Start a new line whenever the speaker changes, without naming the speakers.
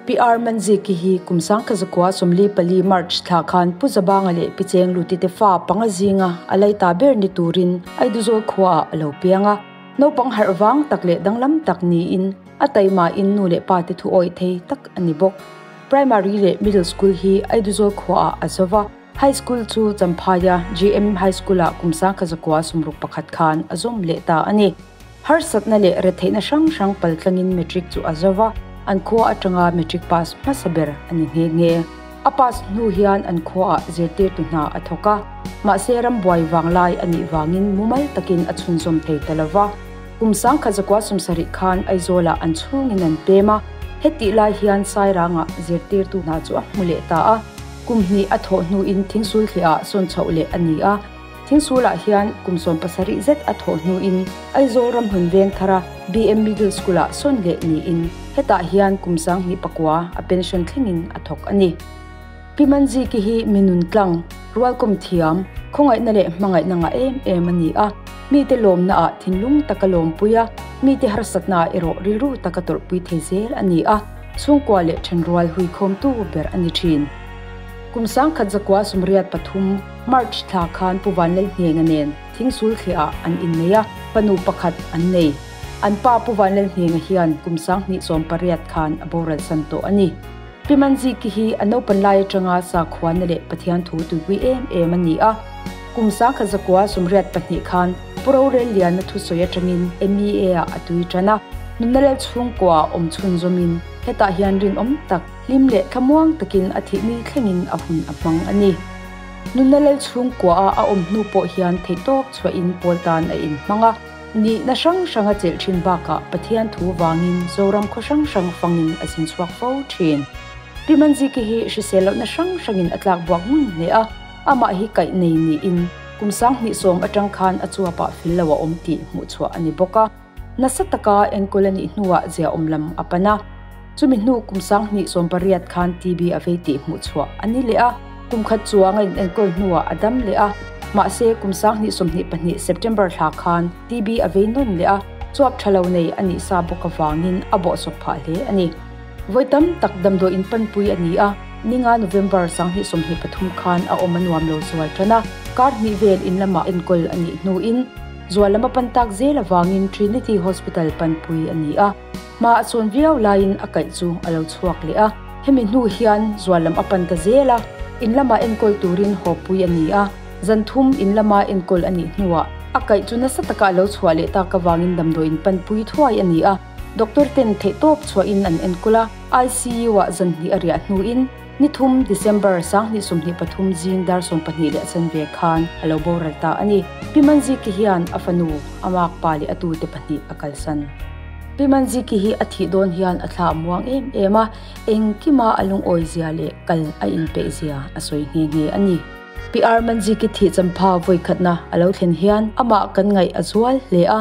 PR Manzi ki hi kum sangkhat zakua sawmli pali March thla khan Pu Zabanga leh Pi Cheng Lutite fa panga zinga a lei ta ber ni turin Aiduzawi khua ah a lo piang a. Naupang harh vang tak leh danglam tak niin a taima in nu leh pa te thu awih thei tak a ni bawk. Primary leh Middle School hi Aiduzawi khua ah a zova, High School chu Champhaia GM High School ah kum sangkhat zakua sawmruk pakhat khan a zawm leh ta a ni. Harsatna leh retheihna hrang hrang pal tlangin Matric chu a zo va, an khua atanga Matric pass hmasa ber a ni nghe nghe. A pass hnu hian an khuaah zirtirtu hna a thawk a, mahse ram buai vang lai a nih vangin mumal takin a chhunzawm thei ta lo va. Kum sangkhat zakua sum sarih khan Aizawlah an chhungin an pem a, hetih lai hian Sairangah zirtirtu hna chu a hmu leh ta a, kum hnih a thawh hnuin thingsulthleh ah sawn chhoh leh a ni a. Thing sulah hian kum sawm pasarih zet a thawh hnuin Aizawl ramhlun Vengthara BM Middle School-a sawn leh niin hetah hian kum sang hnih pakua a pension thlengin a thawk a ni. Pi Man Ziki hi mi nun tlang, rualkawm thiam, khawngaihna leh hmangaihna ngah em em a ni a. Mite lawmnaah thinlung taka lawmpui a, mite harsatnaah erawh rilru taka tawrhpui thei zel a ni a, chhungkua leh thenrual huikhawmtu ber a ni thin. Kum sang khat zakua sumriat pathum, March thla khan Pu Vanlei Hniaina nen thing sul thleh ah an in nei a, panu pakhat an nei. An pa Pu Vanlei Hniaina hian kum sang hnih sawm pariat khan a boral san tawh a ni. Pi Man Zi Ki hi a naupan lai atanga sakhuana leh Pathian thu tuipui em em a ni a. Kum sang kha zakua sumriat pahnih khan Pu Rorel Liana thu sawi atangin MEA ah a tui tan a, nunalal chhungkua awm chhunzawm in hetah hian rinawm tak, Hlim leh thlamuang takin a thihmi thlengin a hun a hmang a ni. Nunna lal chhungkuaha a awm hnu pawh hian theihtawp chhuahin pawl tan a inhmang a. Nihna hrang hranga chelh thin bakah Pathian thu vangin Zoram khaw hrang hrang fangin a zin chhuak fo thin. Pimanjiki hi hrisel lohna hrang hrangin a tlak buak nghun hle a, amah hi kaih nei niin kum sang hnih sawm atang khan a chuapah fel lo a awm tih hmuh chhuah a ni bawk a. Nasa taka enkawl a nih hnuah zia awm lam a pan a. Chumi hnu kum sanghnih sawm pariat khan TB a vei tih hmuh chhuah a ni leh a. Kum khat chuanga in enkawl hnuah a dam leh a. Mahse, kum sanghnih sawmhnih pahnih September thla khan TB a vei nawn leh a, chuap tha lo nei a nih sa bawk avangin a bawh sawp phah hle a ni. Vawi tam tak damdawi in panpui a ni a. Ninga November sanghnih sawmhnih pathum khan a awm a nuam lo zual tan a. Kar hnih vel in lamah enkawl a nih hnuin. Zual lama pan tak zel avangin Trinity Hospital panpui a ni a, hma a chuan viau laiin a kaih chu a lo chhuak leh a. Hemi hnu hian zual lam a pan ta zel a, in lama enkawl turin hawppui a ni a, zan thum in lama enkawl a nih hnuah a kaih chu nasa taka a lo chhuah leh tak avangin damdawiin panpui thuai a ni a. Doctor ten theihtawp chhuahin an enkawl a, ICU-ah zanhnih a riah hnuin, Ni thum, December, Sanghnih sawmhnih pathum zing dar sawm pahnih leh a chan ve khan a lo boral ta a ni. Pimanziki hian a fanu, a mâk pa leh a tute pahnih a kalsan. Pimanziki hi a thih dawn hian a thla muang em em a, engkima a lungawizia leh kal a inpeihzia a sawi nghe nghe a ni. Piarmanziki thih champha vawikhatna a lo thlen hian amah kan ngaih a zual hle a,